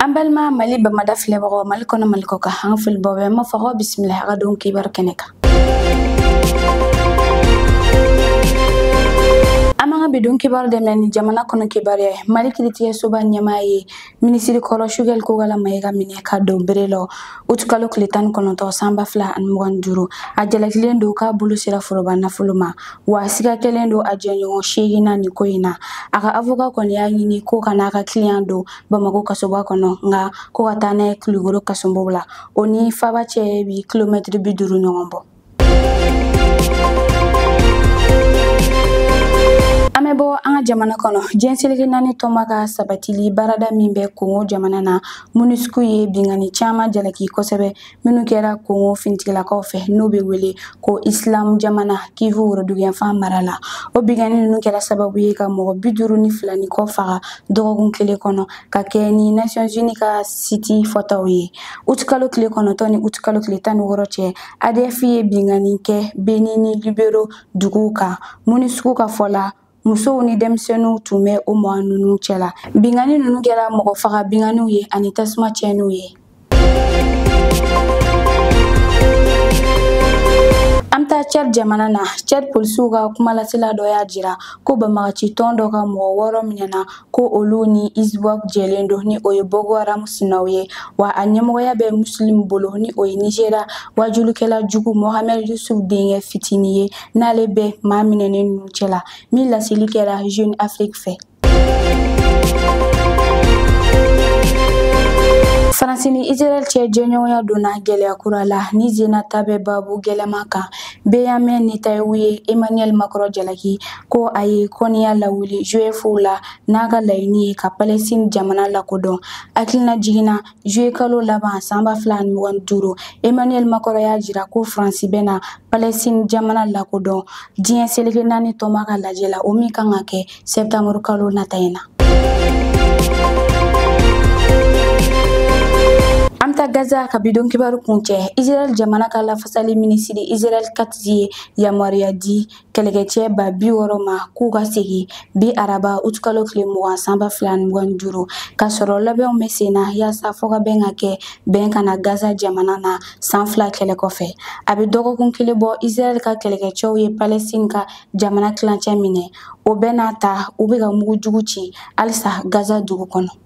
an balima mali bamada filɛbagaw mali kɔnɔ mali kɔkan an foli b'aw bɛɛ ma fɔ ko bisimila an ka don kibaru kɛnɛ kan an b'an ka bi don kibaru daminɛ ni jamana kɔnɔ kibaruya ye mali kiritigɛsoba ɲɛmaa ye minisiri kɔrɔ choguel kokalla maiga minɛ ka don bere la utikalo tile tan ni kɔnɔntɔn san ba fila ani mugan ni duuru a jalakilen don k'a bolo sera foroba nafolo ma wa siga kɛlen don a jɛɲɔgɔn seegin na nin ko in na a ka avoka kɔni y'a ɲini ko kan'a ka kiliyan don bamakɔ kasoba kɔnɔ nka ko ka taa n'a ye kulukoro kasobon la o ni faaba cɛ bi kilomɛtiri bi duuru ɲɔgɔn bɔ an bɛ bɔ an ka jamana kɔnɔ diɲɛ seleke naani tɔnba ka sabatili baarada min bɛ kongo jamana na monusco ye bingani caman jalaki kosɛbɛ minnu kɛra kongo fintigilakaw fɛ n'o bɛ wele ko isilamu jamana kivu woroduguyanfan mara la o bingani ninnu kɛra sababu ye ka mɔgɔ bi duuru ni fila ni kɔ faga dɔgɔkun kelen kɔnɔ ka kɛ ni nations unies ka siti fɔtaw ye utikalo tile kɔnɔntɔn ni utikalo tile tan ni wɔɔrɔ cɛ adf ye bingani kɛ beni ni lubero duguw kan monusco ka fɔ la musow ni denmisɛnninw tun bɛ o mɔgɔ ninnu cɛla bingani ninnu kɛra mɔgɔ faga binganiw ye ani tasuma tiɲɛniw ye an taa cad jamana na cad polisiw ka kumalasela dɔ y'a jira ko banbaganci tɔn dɔ ka mɔgɔ wɔɔrɔ minɛna ko olu ni iswap jɛlen don ni o ye boko haram sinaw ye wa a ɲɛmɔgɔya bɛ muslim bolo ni o ye nigeria waajulikɛla jugu mohamed yusuf denkɛ fitini ye n'ale bɛ maa minɛnen ninnu cɛla min laseli kɛra jeune afrique fɛ faransi ni israel cɛ jɛɲɔgɔnya donna gɛlɛya kura la ni zena ta bɛ babu gɛlɛma kan benyamin netanyahu ye emmanuel macron jalaki ko a ye kɔniya lawuli juifuw la n'a ka laɲini ye ka palestine jamana lakodɔn hakilina jiginna juye kalo laban san ba fila ni mugan duuru emmanuel macron y'a jira ko faransi bɛna palestine jamana lakodɔn diɲɛ seleke naani tɔnba ka lajɛ la o min kan ka kɛ sɛptanburu kalo nata in na an taa gaza ka bi don kibaru kuncɛ israɛl jamana ka lafasali minisiri israɛl katz ye yamaruya di kɛlɛkɛcɛ ba bi wɔɔrɔ ma k'u ka segin bi araba utukalo tile mugan san ba fila ni mugan ni duuru ka sɔrɔ labɛnw bɛ sen na yaasa fɔkabɛn ka kɛ bɛn ka na gaza jamana na san fila kɛlɛ kɔfɛ a bɛ dɔgɔkun kelen bɔ israɛl ka kɛlɛkɛcɛw ye palɛstin ka jamana tilancɛ minɛ o bɛɛ n'a ta u bɛ ka mugu jugu ci halisa gaza dugu kɔnɔ